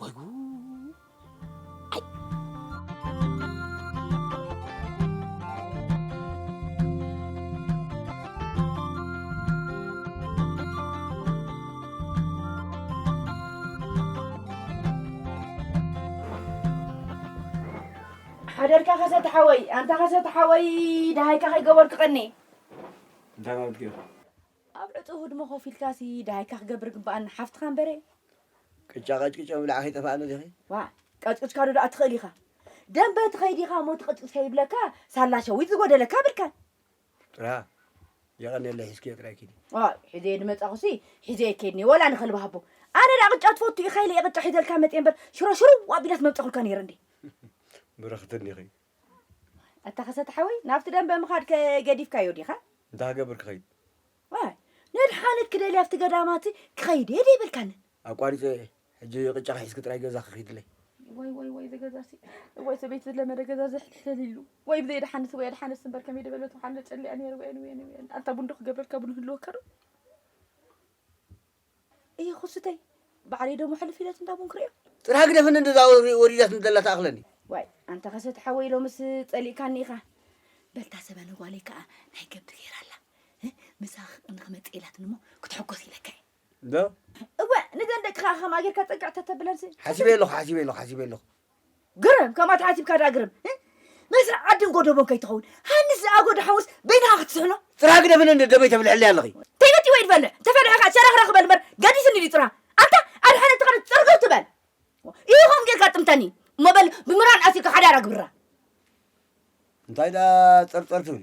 E: ወይ ጉድ!
G: ሓደርካ ከሰተ ሓወይ ኣንታ ከሰተ ሓወይ ደሃይካ ከይገበርኩ ቀኒ እንታይ
H: ማለት እዩ ኣብ ዕጹው
G: ህድሞ ኮፍ ኢልካሲ ደሃይካ ክገብር ግበኣኒ ሓፍትኻ እምበረ። ቅጫ ቀጭቂጮ
H: ምብላዕ ከይጠፈኣ ኣሎ ዲኺ? ዋእ ቀጭቂጭካዶ
G: ደኣ ትኽእል ኢኻ ደምበ ትኸይድ ኢኻ እሞ ትቐጭቅጭ ከይብለካ ሳላ ሸዊት ዝጎደለካ ብርከን። ጥራ
H: የቐኔለይ ሒዝክዮ ጥራይ ኪዲ። ዋይ ሒዘዮ ድመጻኹሲ
G: ሒዘዮ ኬድ እንየ ወላ ንኸልቢ ሃቦ። ኣነ ደኣ ቅጫ ትፈቱ ኢኻ ኢለ እየ ቅጫ ሒዘልካ መጽየ እምበር ሽሮ ሽርው ኣቢላስ መብጸኹልካ ነይረ እንድየ። ብርኽቲ
H: እንዲኺ ኣታ
G: ከሰተ ሓወይ ናብቲ ደንበ ምኻድ ከ ገዲፍካዮ ዲኻ? እንተ ሃገብር ክኸይድ።
H: ዋይ
G: ነድሓነት ክደሊ ኣብቲ ገዳማቲ ክኸይድ እየ ደይበልካንን። ኣቋሪጸዮ እየ
H: ሕጂ ቅጫ ክሒዝኪ ጥራይ ገዛ ክኺድለይ። ወይ ወይ ወይ ዘገዛሲ
G: ወይ ሰበይቲ ዝለመደ ገዛ ዘሕትሕተሊሉ ወይ ብዘይ ድሓንስ ወይ ኣድሓንስ እምበር ከመይ ደበለት ውሓን ለጨሊኣ ነይር ወየን ወየን ወየን ኣንታ ቡንዶ ክገብረልካ ቡን ህልወካ ዶ እየ ኩሱተይ ባዕለይ ደሞ ሕልፍ ኢለት እንዳ ቡን ክሪኦ ጥራ ግደፍኒ እንደዛ
H: ወሪዳትኒ ዘላ ተኣኽለኒ ዋይ ኣንታ ከሰት
G: ሓወይ ሎምስ ጸሊእካኒ ኢኻ በልታ ሰበን ጓለይ ከዓ ናይ ገብቲ ገይራ ኣላ ምሳ ንክመጽእ ኢላትኒ እሞ ክትሕጎስ ኢለካ እየ እንዶ
H: እወ ንዘን
G: ደቅኻ ከማይ ጌርካ ጸግዕ ተተብለን ሓሲበ ኣለኹ ሓሲበ
H: ኣለኹ ሓሲበ ኣለኹ ግርም
G: ከምኣ ተሓሲብካ ደኣ ግርም እ መስርዕ ዓድን ጎደቦን ከይትኸውን ሃንስ ዝኣጎ ደሓውስ በይንኻ ክትስሕኖ ጥራ ግደ ብለ እንደ ደበይ
H: ተብልዕለይ ኣለኺ። ተይበቲ ወይ ድበልዕ
G: ተፈልዐ ከኣ ሸረኽረኽ በል እምበር ገዲስኒ ድዩ ጥራ ኣታ ኣድሓነት ተኸነ ጽርግር ትበል እዩ ከም ጌርካ ጥምተኒ እሞ በል ብምራን ኣሲርካ ሓዳር ኣግብራ። እንታይ ደኣ
H: ጸርጸር ትብሊ?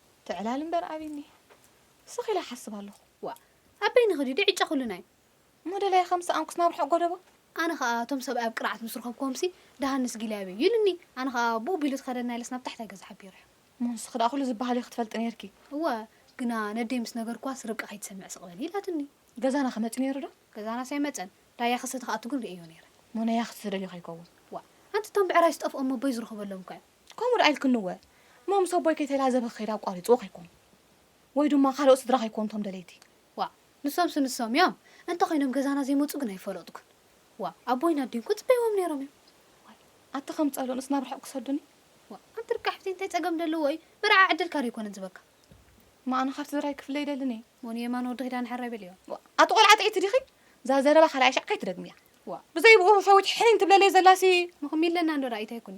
C: ትዕላል እምበር ኣቢ
D: እኒሀ ስኽ ኢለ ይሓስብ ኣለኹ። ዋእ ኣብ
C: በይኒ ኽዲ ዶ ዕጫ ኹሉ ናይ። እሞ ደላይ ኸምስ
D: ኣንኩስ ናብ ርሑቕ ጎደቦ። ኣነ ኸኣ እቶም
C: ሰብኣይ ኣብ ቅርዓት ምስ ረኸብኩዎምሲ ደሃንስ ጊላይ ኣበዩ ኢሉኒ ኣነ ኸኣ ብኡ ቢሉ ተኸደና ኢለስ ናብ ታሕታይ ገዛ ሓቢረዮ። እሞ ንስኺ ደኣ ኹሉ
D: ዝበሃል እዩ ኽትፈልጢ ነይርኪ። እወ ግና
C: ነደይ ምስ ነገርኩዋስ ርብቃ ኸይትሰምዕ ስቕ በሊ ኢላትኒ። ገዛና ኸ መጺኡ ነይሩ
D: ዶ። ገዛናስ ኣይመጸን
C: ዳያ ኽሰተ ኽኣቱ ግን ርእየዮ ነይረ። እሞ ናይ ያኽቲ ዝደልዮ
D: ኸይከውን። ዋእ ኣንቲ እቶም
C: ብዕራይ ዝጠፍኦም ኣቦይ ዝረኸበሎም እኮ እዮም። ከምኡ ደኣ ኢልክንወ
D: እሞ ምስ ኣቦይ ከይተላዘበ ክኸይድ ኣቋሪጽዎ ከይኮን ወይ ድማ ካልኦት ስድራ ከይኮኑ እቶም ደለይቲ። ዋእ ንሶምሲ
C: ንሶም እዮም እንተ ኾይኖም ገዛና ዘይመጹ ግን ኣይፈለጥኩን ዋእ ኣቦይን ኣዲን እኮ ጽበይዎም ኔሮም እዮም። ዋይ ኣቲ
G: ከም ጸሎንስ ናብ ርሑቅ ክሰዱኒ። ዋእ ኣንቲ ርካሕብቲ
D: እንታይ ጸገም ደለዎ እዩ ምርዓ ዕድልካ ዶ ኣይኮነን ዝበካ። እማ ኣነ ካብ
G: ስድራይ ክፍለ ኣይደልን እየ። እሞ ንየማነ ወዲ ኪዳነ
D: ሕራይ በልዮ። ዋእ ኣቲ ቆልዓ ጥዕይቲ
G: ዲኺ እዛ ዘረባ ካልኣይ ሻዕ ከይትደግምያ። ዋእ ብዘይ ብኡ ሸዊት ሕኒን ትብለለይ ዘላሲ። እሞ ክም ኢለና እንዶ ደኣ
D: ኢታይ ኩኒ።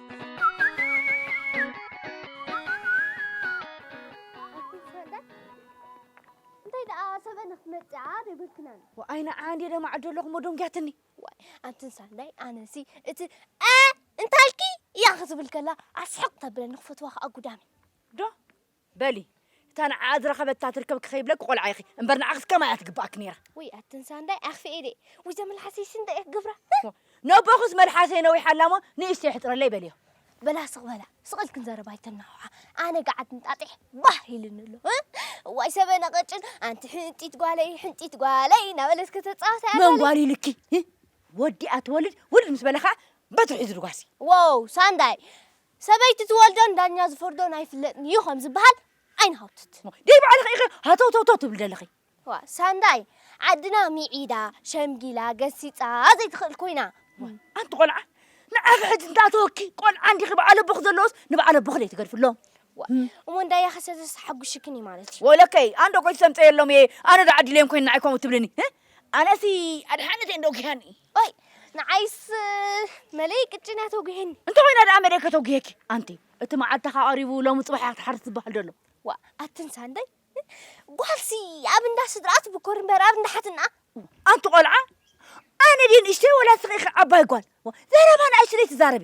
C: እንታይ ደኣ ሰበን ክትመጽኣ ደብርክናን ወኣይ ንዓ እንዴ ደማዕዶ ኣለኹሞ ደንጊያትኒ ዋይ ኣንቲ ሳንዳይ ኣነሲ እቲ ኣ እንታልኪ እያ ክትብል ከላ ኣስሕቕ ተብለኒ ክፈትዋ ከኣ ጉዳመይ ዶ
J: በሊ እታ ንዓኣ ዝረኸበታ ትርከብ ክኸይብለኪ ቆልዓ ኢኺ እምበር ንዓ ክትከም ኣያ ትግብኣኪ ነይራ። ውይ ኣትንሳ እንዳይ
C: ኣኽፊኤ ደይ ውይ ዘመልሓሰይስ እንታይ ክገብራ ነቦኹስ
J: መልሓሰይ ነዊሓ ኣላ እሞ ንእሽተይ ሕፅረለይ በልዮ። በላ ስቕ በላ
C: ስቕ ኢልክን ዘረባ ኣይተናውሓ ኣነ ገዓት እንጣጢሕ ባህ ኢልኒ ኣሎ እዋይ ሰበነ ቐጭን ኣንቲ ሕንጢት ጓለይ ሕንጢት ጓለይ እናበለት ከተፃወታ መን ጓል ኢልኪ
J: ወዲኣ ትወልድ ውልድ ምስ በለ ከዓ በትሪ ሒዙ ድጓሲ ዋው ሳንዳይ
C: ሰበይቲ ትወልዶን ዳኛ ዝፈርዶን ኣይፍለጥን ኢዩ ከም ዝበሃል ኣይንሃውትት። ደይ ባዕልኺ ኢኺ
J: ሃተውተውተው ትብሊ ዘለኺ። ዋእ ሳንዳይ
C: ዓድና ሚዒዳ ሸምጊላ ገሲጻ ዘይትኽእል ኮይና። ኣንቲ ቆልዓ
J: ንዓኺ ሕጂ እንታይ ኣተወኪ ቆልዓ እንዲኺ በዓል ኣቦኺ ዘለዎስ ንበዓል ኣቦኺ ደይ ትገድፍሎም። ዋእ እሞ እንዳያ
C: ከሰተስ ተሓጉሽክን እዩ ማለት እዩ። ወለከይ ኣነ ዶ ኮይት
J: ሰምጸየሎም እየ ኣነ ዶ ዓዲለዮም ኮይን ንዓይ ከምኡ ትብልኒ ኣነሲ ኣድሓነት እየን ዶ ጊሃኒ። ኦይ
C: ንዓይስ መለይ ቅጭን እያ ተጒሂኒ እንተኾይና ደኣ መደይ
J: ከተጒሄኪ ኣንቲ እቲ መዓልትኻ ቀሪቡ ሎሚ ፅባሕ እያ ክትሓርስ ዝበሃል ደሎ ዋ ኣትን
C: ሳንደይ ጓልሲ ኣብ እንዳ ስድራኣ ትብኮር እምበር ኣብ እንዳ ሓትናኣ ኣንቲ ቆልዓ
J: ኣነ ድየ ንእሽተይ ወላ ስኺ ኢኺ ዓባይ ጓል ዘረባ ንኣሽተይ ትዛረቢ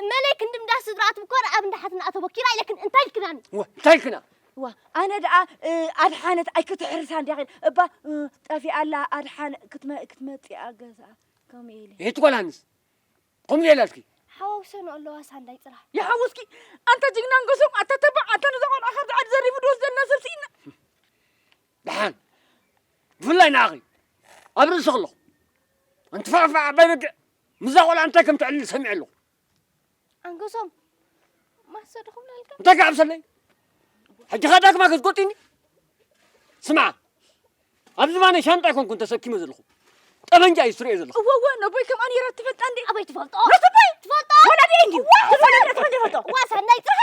J: እመለይ ክንዲ እንዳ
C: ስድራ ትብኮር ኣብ እንዳ ሓትንኣ ተበኪራ ኢለክን እንታይ ኢልክናኒ ወ እንታይ ኢልክና
I: ዋ ኣነ ደኣ
J: ኣድሓነት ኣይክትሕርሳ እንዲያ ኸይድ እባ ጠፊኣ ኣላ ኣድሓነ ክትመፅእ ኣገዛ ከምኡ ኢለ ይህቲ ጓል ሃንስ
I: ከምኡ ኢላትኪ ሓዋውሰን ኣለዋ
C: ሳንዳይ ጥራሕ ይሓውስኪ
J: ኣንተ ጅግና ንጎሶም ኣታ ተባዕ ኣታ ነዛ ቆልዓ ካብዚ ዓዲ ዘሪፉ ድወስደና ሰብ ስኢና
I: ደሓን ብፍላይ ንኣኺ ኣብ ርእሲ ከለኹ እንትፋዕፋዕ ኣባይ በግዕ ምስዛ ቆልዓ እንታይ ከም ትዕልል ሰሚዐ ኣለኹ። ኣንገሶም
C: ማሰ ድኹም ናልካ እንታይ ክዓብሰለይ
I: ሕጂ ኸ ዳግማ ከዝጎጢኒ ስምዓ ኣብ ዝባነይ ሻንጣ ኣይኮንኩን ተሰኪመ ዘለኹ ጠበንጃ እዩ ዝትርእዮ ዘለኹ እወ እወ ነቦይ ከምኣ ነይራ
J: ትፈልጣ እንዴ ኣበይ ትፈልጦ መስቦይ
C: ትፈልጦ
J: ወላዲ እንድዩ ትፈልጦ ዋሳ ናይ ፅርሓ